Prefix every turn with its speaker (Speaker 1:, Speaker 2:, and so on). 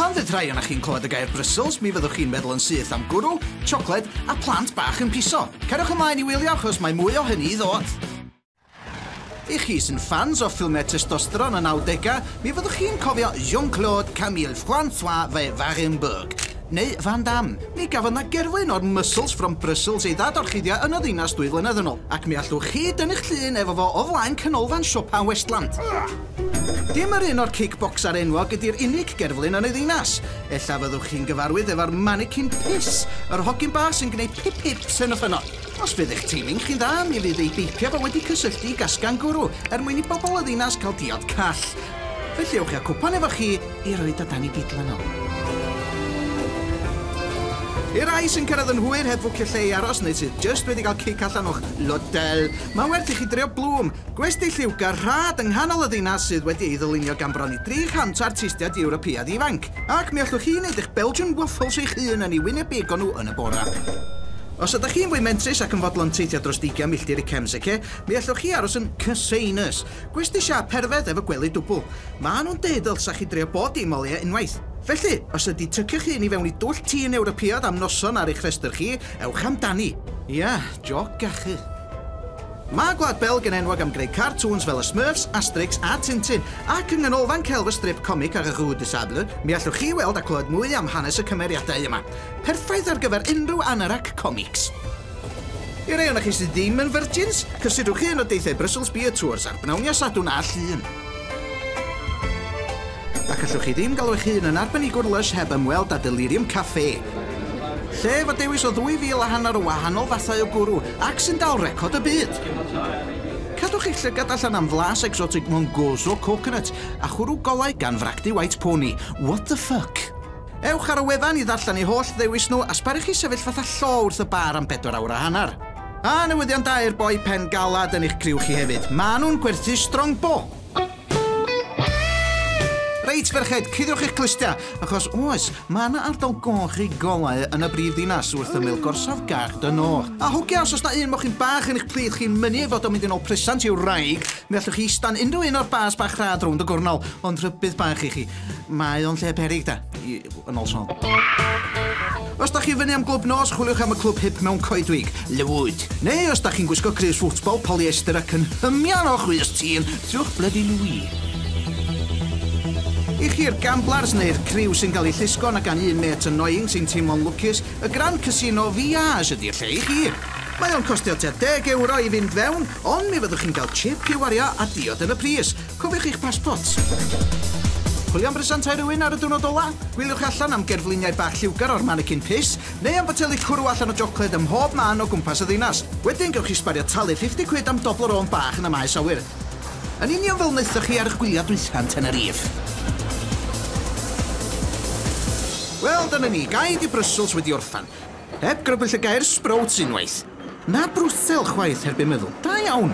Speaker 1: Pan fydd rhai ohonoch chi'n clywed y gair Brussels, mi fyddwch chi'n meddwl yn syth am gwrw, siocled a plant bach yn piso. Cariwch ymlaen i wylio achos mae mwy o hynny i ddod. I chi sy'n ffans o ffilmiau testosteron y 90au, mi fyddwch chi'n cofio Jean-Claude Camille Francois Ve Wagenburg, neu Van Damme. Mi gafodd 'na gerflun o'r Muscles from Brussels ei ddadorchuddio yn y ddinas dwy flynedd yn ôl, ac mi allwch chi dynnu'ch llun efo fo o flaen canolfan siopa Westland. Dim yr un o'r kickbocser enwog ydi'r unig gerflun yn y ddinas. Ella fyddwch chi'n gyfarwydd efo'r manikin piss, yr hogyn bach sy'n gwneud pip-pips hyn a phynno. Os fydd eich timing chi'n dda, mi fydd ei beipio fo wedi cysylltu i gasgan gwrw er mwyn i bobl y ddinas cael diod call. Felly ewch i'ch cwpan efo chi I roi dy dan i gydlan o. I'r rhai sy'n cyrraedd yn hwyr heb fwcio lle i aros neu sydd jyst wedi cael cic allan o'ch lotel, mae werth i chi drio Bloom, gwesty lliwgar rhad yng nghanol y ddinas sydd wedi ei ddylunio gan bron i 300 o artistiaid Ewropeaidd ifanc. Ac mi allwch chi wneud eich Belgian waffles eich hun yn eu wynebig o nhw yn y bore. Os ydych chi'n fwy mentrus ac yn fodlon teithio dros deugain milltir i Kemseke, mi allwch chi aros yn Cassainas, Gwesty siâp perfedd efo gwely dwbl. Maen nhw'n deud y ddylsa chi drio bob dim o leia' unwaith. Felly, os ydi tycio'ch hun i fewn i dwll tîn Ewropeaidd am noson ar eich rhestr chi, ewch amdani. Ia, jôc gachu. Mae Gwlad Belg yn enwog am greu cartŵns fel y Smurfs, Asterix a Tintin, ac yng Nghanolfan Celf y Strip Comic ar y Rue de Sable, mi allwch chi weld a clywed mwy am hanes y cymeriadau yma. Perffaith ar gyfer unrhyw anorac comics! I rei ohonoch chi sydd ddim yn virgins, cysidwch un o deithiau Brussels Beer Tours ar bnawn Iau Sadwrn a Llun. Ac allwch chi ddim galw eich hun yn arbenigwr Lush heb ymweld â Delirium Café. Lle efo dewis o ddwy fil a hanner o wahanol fathau o gwrw ac sy'n dal record y byd. Cadwch eich llygad allan am flas exotic Mongozo Coconut a chwrw golau gan fragdy White Pony. What the fuck? Ewch ar y wefan i ddarllen eu holl ddewis nhw a sbaru chi sefyll fatha llo wrth y bar am bedwar awr a hanner. A newyddion da i'r boi pen galad yn eich criw chi hefyd, maen nhw'n gwerthu Strongbow! Reit ferched, cuddiwch eich clustiau, achos oes, mae yna ardal goch i golau yn y brif ddinas wrth ymyl gorsaf Gare du Nord. A who cares os na un mochyn bach yn eich plith chi'n mynnu ei fod o'n mynd yn ôl presant i'w wraig, mi allwch chi ista'n unrhyw un o'r bars bach rhad rownd y gornel, ond rhybudd bach i chi. Mae o'n lle peryg da, i, yn ôl Siôn. Os da chi fyny am glwb nos, chwiliwch am y clwb hip mewn coedwig, Lywood. Neu os da chi'n gwisgo crys football, polyester ac yn hymian o chwys tîn, trwch blydi Louis. I chi'r gamblers neu'r criw sy'n cael eu llusgo na gan un mêt annoying sy'n teimlo'n lwcus, y Grand Casino Viage ydi'r lle i chi. Mae o'n costio tua deg ewro i fynd fewn, ond mi fyddwch chi'n cael chip i wario a diod yn y pris. Cofiwch eich paspots! Chwilio am bresantau rhywun ar y diwrnod ola? Gwyliwch allan am gerfluniau bach lliwgar o'r manikin pys, neu am boteli cwrw allan o jocled ym mhob man o gwmpas y ddinas. Wedyn gewch chi sbario talu 50 cwid am Toblerone bach yn y maes awyr. Yn union fel wnaethoch chi ar eich gwyliau dwytha yn Tenerife. Wel, dyna ni, gaed i Brussels wedi orffen. Heb grybwyll y gair sbrouts unwaith. Na Brwsel chwaith heb eu meddwl. Da iawn!